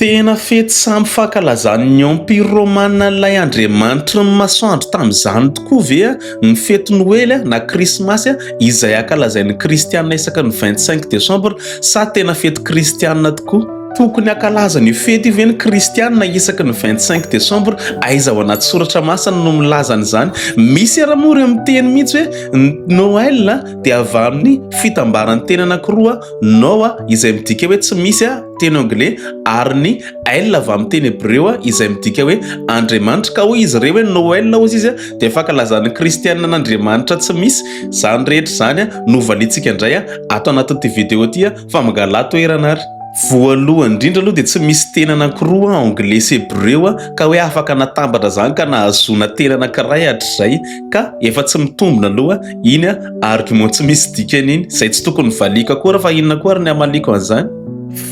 Tena fety samy fankalazan'ny Empira Romana an'ilay andriamanitry ny masoandro tamin'izany tokoa ve ny fety Noely na Krismasy izay ankalazain'ny Kristianina isaky ny vingt cinq décembre sa tena fety kristianina tokoa? Tokony hankalaza an'io fety io ve ny Kristianina isaky ny vingt cinq décembre? Aiza ao anaty soratra masina no milaza an'izany? Misy ary moa ireo miteny mihitsy hoe ny Noël dia avy amin'ny fitambaran'ny teny anankiroa Noa izay midika hoe tsy misy teny anglais, ary ny El avy amin'ny teny hebreo izay midika hoe Andriamanitra. Ka hoy izy ireo hoe Noel, hoy izy, dia fankalazan'ny Kristianina an'Andriamanitra tsy misy. Izany rehetra izany no valiantsika indray ato anatin'ity video ity fa mangalà toerana ary. Voalohany indrindra aloha dia tsy misy teny anankiroa, anglais sy hebreo, ka hoe afaka natambatra izany ka nahazoana teny anankiray hatrizay ka efa tsy mitombina aloha Iny an, argument tsy misy dikany iny, izay tsy tokony valiako akory fa inona koa ary ny hamaliako an'izany?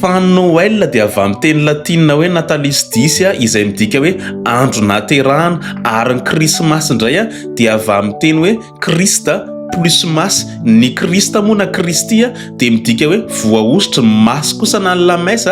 Fa ny Noël dia avy amin'ny teny latina hoe natalis dies izay midika hoe andro nahaterahana, ary ny Krismasy indray dia avy amin'ny teny hoe Christ plus Mass, ny Christ moa na Kristy dia midika hoe voahosotry ny Mass kosa na ny Lames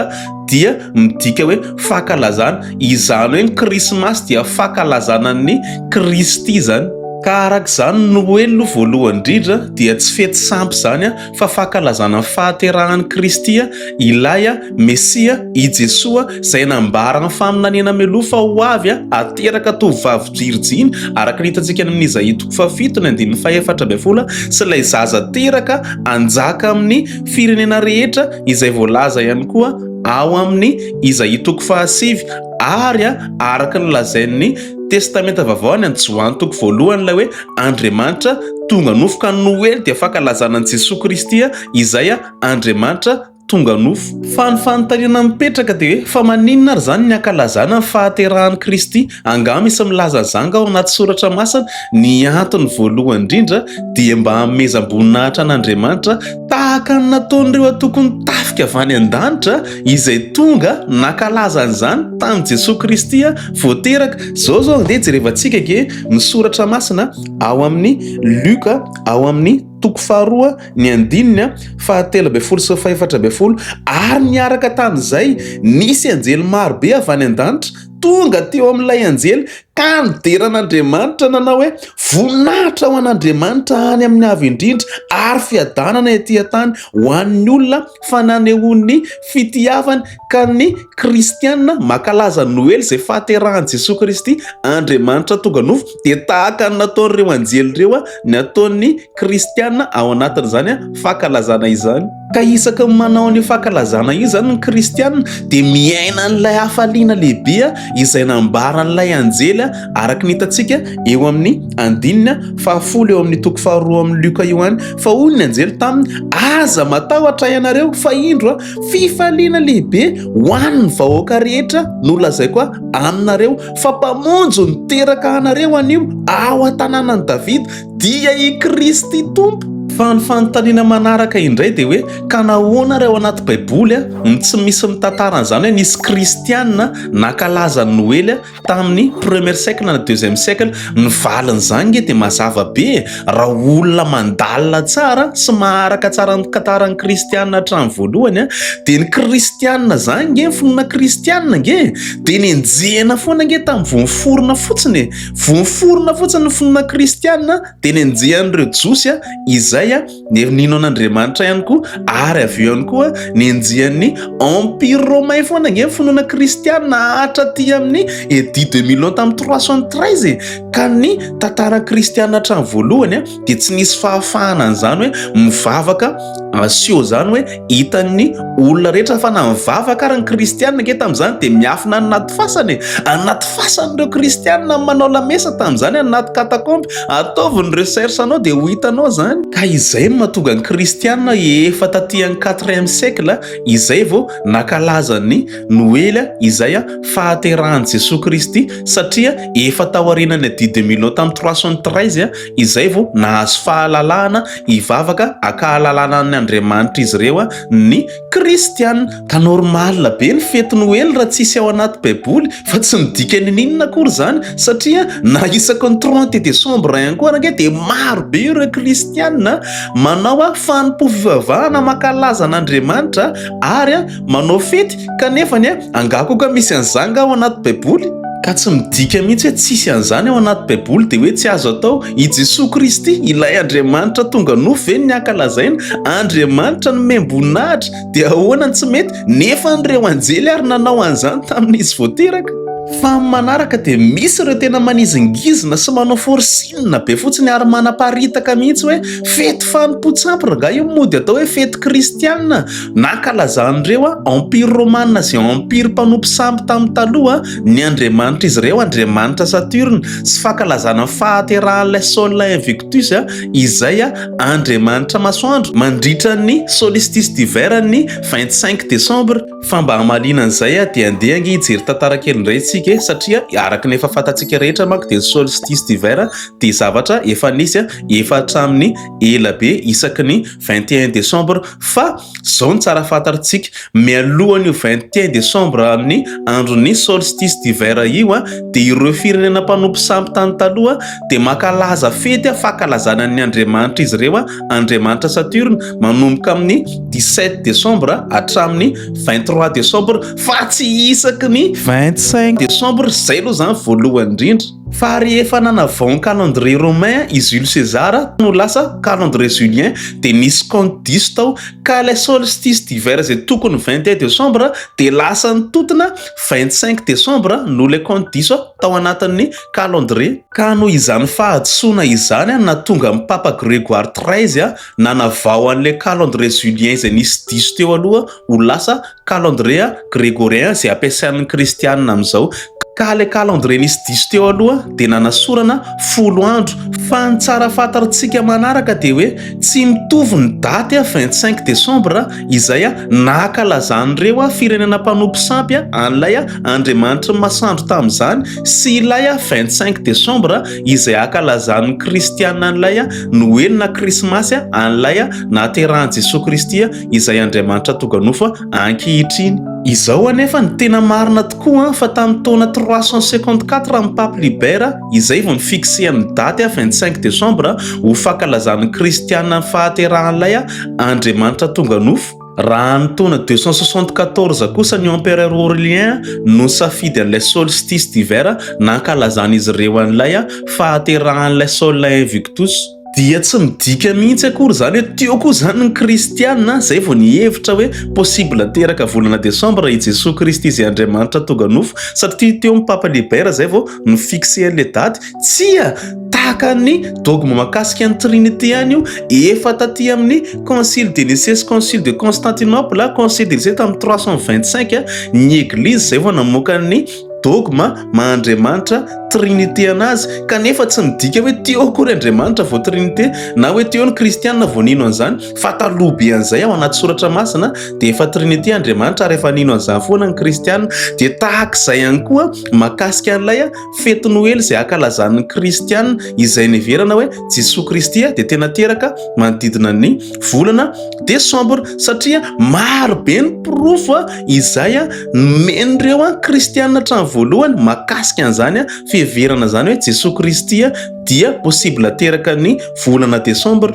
dia midika hoe fankalazana. Izany hoe ny Krismasy dia fankalazana an'i Kristy izany. Ka araka izany, Noely aloha voalohany indrindra dia tsy fety sampy izany fa fankalazana ny fahaterahan'i Kristy, ilay Mesia, i Jesoa, izay nambaran'ny faminaniana mialoha fa ho avy hateraka tovovavy virjiny, araka ny hitantsika any amin'i Izaia toko fahafito ny andininy fahefatra ambin'ny folo, sy ilay zaza teraka hanjaka amin'ny firenena rehetra. izay voalaza ihany koa ao amin'ny Izaia toko fahasivy ary araka ny lazain'ny Testamenta Vavao any amin'ny Joany toko voalohany ilay hoe Andriamanitra tonga nofo ka ny Noely dia fankalazana an'i Jesoa Kristy izay Andriamanitra tonga nofo. Fa ny fanontaniana mipetraka dia hoe fa maninona ary izany ny hankalazana ny fahaterahan'i Kristy? Angaha misy milaza an'izany nga ao anaty soratra masina? Ny antony voalohany indrindra dia mba hanomezam-boninahitra an'Andriamanitra tahaka ny nataon'ireo antokon'ny tafika avy any an-danitra izay tonga nankalaza an'izany tamin'i Jesoa Kristy vao teraka. Izao izao andeha jerevantsika ange ny soratra masina ao amin'ny Luka ao amin'ny toko faharoa ny andininy fahatelo ambin'ny folo sy fahefatra ambin'ny folo ary niaraka tamin'izay nisy anjely marobe avy any an-danitra tonga teo amin'ilay anjely Ka nidera an'Andriamanitra nanao hoe, Voninahitra ho an'Andriamanitra any amin'ny Avo Indrindra, ary fiadanana ety an-tany ho an'ny olona fa nanehoany ny fitiavany. Ka ny kristiana mankalaza Noely izay fahaterahan'i Jesoa Kristy, Andriamanitra tonga nofo, dia tahaka ny nataon'ireo anjely ireo ny ataon'ny kristiana ao anatin'izany fankalazana izany. Ka isaky ny manao an'io fankalazana io izany ny kristiana dia miaina an'ilay hafaliana lehibe izay nambaran'ilay anjely araka ny hitantsika eo amin'ny andininy fahafolo eo amin'ny toko faharoa amin'ny Lioka io ihany fa hoy ny anjely taminy aza matahotra ianareo fa indro fifaliana lehibe ho an'ny vahoaka rehetra nolazaiko aho aminareo fa mpamonjy niteraka anareo anio ao an-tanànan'i Davida Dia i Kristy Tompo. Fa ny fanontaniana manaraka indray dia hoe, ka nahoana ary ao anaty baiboly no tsy misy mitantara an'izany hoe nisy kristiana nankalaza ny noely tamin'ny premier siècle na deuxième siècle? Ny valin'izany nge dia mazava be e! Raha olona mandalina tsara sy maharaka tsara ny tantaran'ny kristiana hatramin'ny voalohany dia ny kristiana zany nge, ny finoana kristiana nge dia nenjehina foana nge tamin'ny voaforona fotsiny e! Voaforona fotsiny ny finoana kristiana teny anjehan'ireo Jiosy izay nino an'Andriamanitra ihany koa, ary avy eo ihany koa nenjehan'ny Empire Romain foana ange ny finoana kristiana hatraty amin'ny Edit de Milan tamin'ny 313 e! Ka ny tantaran'ny kristiana hatramin'ny voalohany dia tsy nisy fahafahana an'izany hoe mivavaka asio izany hoe hitan'ny olona rehetra fa na mivavaka ary ny kristianina ange tamin'izany dia miafina any anaty fasana e anaty fasana ireo kristianina manao lamesa tamin'izany anaty katakomby ataovy ny recherche anao dia ho hitanao izany ka izay no mahatonga ny kristianina efa taty amin'ny quatrième siècle izay vao nakalazan'ny noely izay a fahaterahan'i jesoa kristy satria efa tao aorianan'ny adidy milo tamin'ny trois cent treize Izay vao nahazo fahalalahana hivavaka ankahalalana an' Andriamanitra izy ireo, ny kristiana. Ka normal be ny fety noely raha tsisy ao anaty baiboly fa tsy midika nininona akory izany satria na isaky ny trente decembre ihany koa ary ange dia maro be ireo kristiana manao fanompoam-pivavahana mankalaza an' Andriamanitra ary Manao fety ka nefany a! Angaha koa ka misy an'izany angaha ao anaty baiboly? Ka tsy midika mihitsy hoe tsisy an'izany ao anaty baiboly dia hoe tsy azo atao? I Jesoa Kristy, ilay Andriamanitra tonga nofo ve no ny ankalazaina? Andriamanitra nomem-boninahitra dia ahoana ny tsy mety? Nefa an ireo anjely ary nanao an'izany tamin'ny izy vao teraka. Fa amin'ny manaraka dia misy ireo tena manizingizina sy manao forcing be fotsiny ary manaparitaka mihitsy hoe fety fanompoan-tsampy rangahy io mody atao hoe fety kristiana. Nankalazan'ireo Empire Romana sy Empire mpanompo sampy tamin'ny taloha ny andriamanitr'izy ireo, Andriamanitra Saturne, sy fankalazana ny fahaterahan'ilay Sol Invictus, izay andriamanitra masoandro, mandritra ny Solstice d'hiver ny 25 Desambra. Fa mba hamaliana an'izay dia andeha ange hijery tantara kely indray isika e! satria araka ny efa fantatsika rehetra manko dia ny Solstice d'hiver dia zavatra efa nisy efa hatramin'ny ela be isaky ny Vingt et un décembre fa zao no tsara fantatrtsika mialohan' io vingt et un décembre amin' ny andron' ny solstice d'hiver io dia ireo firenena mpanompo sampy tany taloha dia mankalaza fety fankalazana ny andriamanitr' izy ireo andriamanitra Saturne manomboka amin' ny dix sept décembre hatramin' ny vingt trois décembre fa tsy isaky ny vingt cinq décembre zay aloha zany voalohany indrindra. Fa rehefa nanavao ny calendrier romain i Jules César no lasa calendrier julien dia nisy compte diso tao ka ilay solstice d'hiver izay tokony vingt et un décembre dia lasa nitotona vingt cinq décembre noho ilay compte diso tao anatin'ny calendrier Ka noho izany fahadisoana izany no nahatonga an'i Papa Grégoire treize nanavao an'ilay calendrier julien izay nisy diso teo aloha ho lasa calendrier gregorien izay ampiasain'ny kristianina amin'izao ka ilay calendrier nisy diso teo aloha dia nanasorana folo andro fa ny tsara fantarintsika manaraka dia hoe tsy mitovy ny daty a 25 décembre izay a nahakalazan'ireo a firenena mpanompo sampy a an'ilay a andriamanitry ny masandro tamin'izany sy ilay a 25 décembre izay hakalazan'ny kristianina an'ilay a noely na krismasy a an'ilay a nahaterahan'i jesoa kristy a izay Andriamanitra tonganofo ankehitriny. Izao anefa no tena marina tokoa fa tamin'ny taona trois cent cinquante quatre amin'ny Pape Libera izay vao ni-fixer ny daty vingt cinq décembre ho fankalazan'ny kristiana ny fahaterahan'ilay Andriamanitra tonganofo. Raha ny taona deux cent soixante quatorze kosa ny empereur Aurélien no nisafidy an'ilay solstice d'hiver nankalazan'izy ireo an'ilay fahaterahan'ilay Sol Invictus. Dia tsy midika mihitsy akory izany hoe teo koa izany ny kristiana izay vao nihevitra hoe possible hateraka volana décembre i Jesoa Kristy izay Andriamanitra tonga nofo satria teo ny Papa Liber izay vao ni-fixer ilay daty. Tsia! Tahaka ny dogme mahakasika ny Trinite ihany io, efa taty amin'ny Concile de Nicée sy Concile de Constantinople, Concile de Nicée tamin'ny trois cent vingt-cinq, ny Eglizy izay vao namoaka ny dogma maha Andriamanitra trinite an'azy kanefa tsy midika hoe teo akory Andriamanitra vao trinite na hoe teo ny kristiana vao nino an'izany fa taloha be an'izay ao anaty soratra masina dia efa trinite Andriamanitra ary efa nino an'izany foana ny kristiana dia tahaka izay ihany koa makasika an'ilay fety noely izay akalazan'ny kristiana izay neverana hoe Jesoa Kristy dia tena teraka manodidina ny volana desambra satria maro be ny porofo Izay nomen'ireo kristiana hatrany voalohany mahakasika an'izany fiheverana izany hoe Jesoa Kristy dia possible teraka ny volana desambra.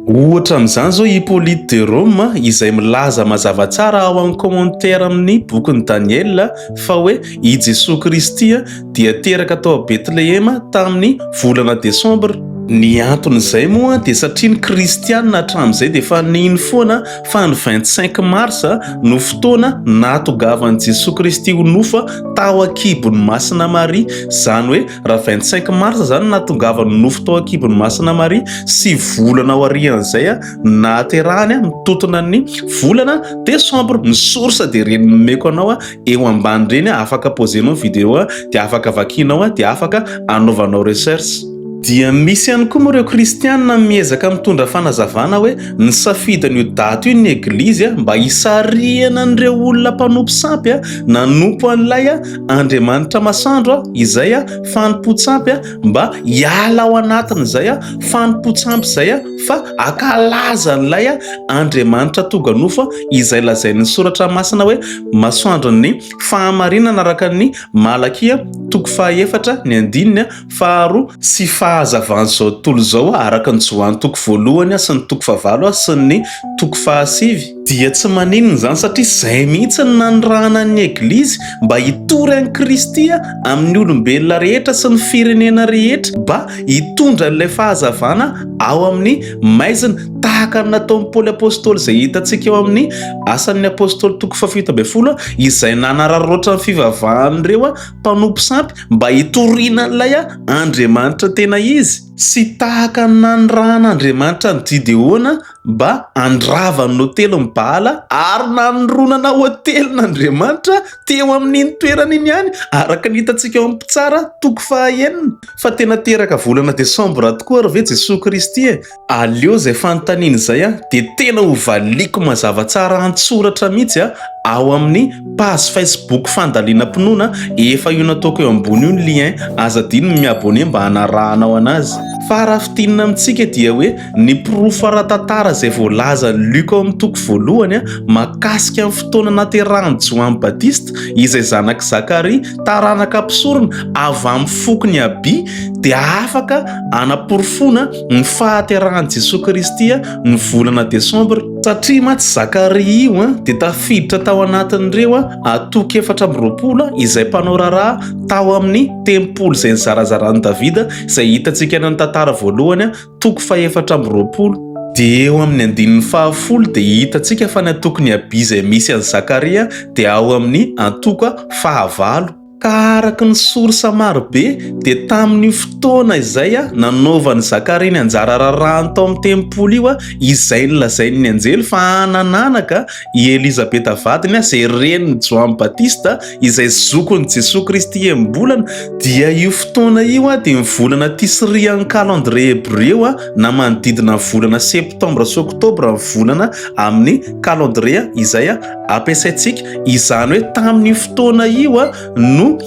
Ohatra amin'izany izao i Hyppolite de Rome izay milaza mazava tsara ao amin'ny commentaire amin'ny bokin'i Daniela fa hoe i Jesoa Kristy dia teraka tao Betlehema tamin'ny volana desambra. Ny anton'izay moa dia satria ny kristianina hatramin'izay dia efa nino foana fa ny vingt cinq mars no fotoana nahatongavan'i Jesoa Kristy ho nofa tao an-kibon'i Masina Maria. Izany hoe raha vingt cinq mars izany no nahatongavany nofo tao an-kibon'i Masina Maria, sivy volana aorian'izay nahaterahany mitotona ny volana desambra. Ny source dia ireny nomeko anao eo ambany reny afaka posenao video dia afaka vakinao dia afaka anaovanao recherche dia misy ihany koa moa ireo kristianina miezaka mitondra fanazavana hoe ny safidiny io daty io ny eglizy a mba hisarihana an'ireo olona mpanompo sampy a nanompo an'ilay a andriamanitra masandro a izay a fanompontsampy a mba hiala ao anatin'izay a fanompontsampy izay a fa ankalaza an'ilay Andriamanitra tonga nofo izay lazain'ny Soratra Masina hoe masoandron'ny fahamarinana araka ny Malakia toko fahaefatra ny andininy faharoa sy fahazavan'izao tontolo izao araka ny Joany toko voalohany sy ny toko fahavalo sy ny toko fahasivy. Dia tsy maninona izany satria izay mihitsy no nanirahana ny Eglizy mba hitory an'i Kristy amin'ny olombelona rehetra sy ny firenena rehetra mba hitondra an'ilay fahazavana ao amin'ny maizina tahaka ny nataon'i Paoly Apostoly izay hitantsika ao amin'ny Asan'ny Apostoly toko fahafito ambin'ny folo izay nanararaotra ny fivavahan'ireo mpanompo sampy mba hitoriana an'ilay Andriamanitra tena izy sy tahaka ny nanirahan'Andriamanitra an'i Gideona mba handravan'ny hotelin'i Baala ary nanoronana hotelin'Andriamanitra teo amin'iny toerana iny ihany, araka ny hitantsika ao amin'ny Mpitsara toko fahaenina. Fa tena teraka volana desambra tokoa ary ve Jesoa Kristy e? Aleo izay fanontaniana izay dia tena hovaliako mazava tsara an-tsoratra mihitsy ao amin'ny page facebook fandalinam-pinoana efa io nataoko eo ambony io ny lien, aza adino ny mi-abonner mba hanarahanao anazy. Fa raha fintinina amintsika dia hoe. Ny porofo ara-tantara izay voalazan'i Luka ao amin'ny toko voalohany mahakasika ny fotoana nahaterahan'i Joany Batista, izay zanak'i Zakaria, taranaka mpisorona avy amin'ny fokon'i Aby, dia afaka hanaporofoana ny fahaterahan'i Jesoa Kristy ny volana Desambra. Satria mantsy Zakaria io dia tafiditra tao anatin'ireo antoko efatra amby roapolo izay mpanao raharaha tao amin'ny tempoly izay nizarazaran'i Davida, izay hitantsika any amin'ny Tantara voalohany. toko fahefatra amby roapolo. Dia eo amin'ny andininy fahafolo dia hitantsika fa ny antokon'i Abia izay misy an'i Zakaria dia ao amin'ny antoka fahavalo. Ka araka ny source maro be dia tamin'io fotoana izay nanaovan'i Zakaria ny anjara rarahany tao amin'ny tempoly io izay nolazain'ny anjely fa hanananaka I Elizabeta vadiny, izay renin'i Joany Batista, izay zokin'i Jesoa Kristy enim-bolana, dia io fotoana io dia ny volana Tisrian'ny Kalendrie Hebreo na manodidina ny volana Septambra sy Oktobra ny volana amin'ny Kalendrie izay ampiasaintsika. Izany hoe tamin'io fotoana io no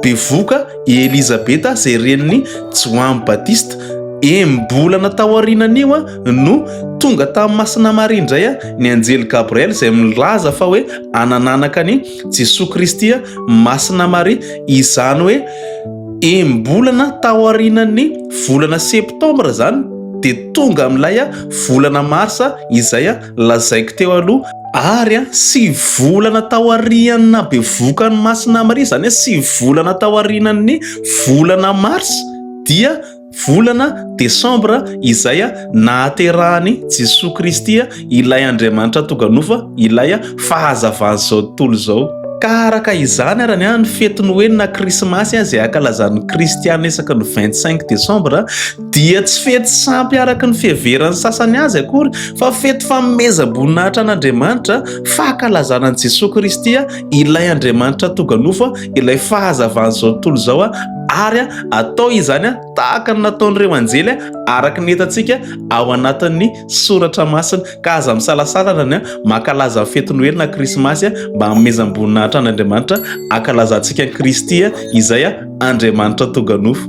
bevoka i Elizabeta izay renin'i Joany Batista, enim-bolana taorianan'io. no tonga tamin'i Masina Maria indray ny anjely Gabriel izay milaza fa hoe anananaka an'i Jesoa Kristy Masina Maria, izany hoe enim-bolana taorianan'ny volana septambra izany dia tonga amin'ilay volana marsa izay lazaiko teo aloha ary sivy volana taorian'ny bevokan'i Masina Maria izany hoe sivy volana taorianan'ny volana marsa dia Volana desambra izay nahaterahan'i Jesoa Kristy ilay Andriamanitra tonga nofo, ilay fahazavan'izao tontolo izao. Ka araka izany ary ny fety Noely na Krismasy izay ankalazan'ny Kristiana isaky ny vingt cinq desambra dia tsy fety sampy araka ny fiheveran'ny sasany azy akory fa fety fanomezam-boninahitra an'Andriamanitra, fankalazana an'i Jesoa Kristy ilay Andriamanitra tonga nofo. ilay fahazavan'izao tontolo izao a ary a atao izany a tahaka ny nataon'ireo anjely a araka ny hitantsika ao anatin'ny soratra masina ka aza misalasalana ny a makalaza ny fety noely na krismasy a mba hamezam-boninahitra an'andriamanitra akalazantsika ny kristy a izay a andriamanitra toganofo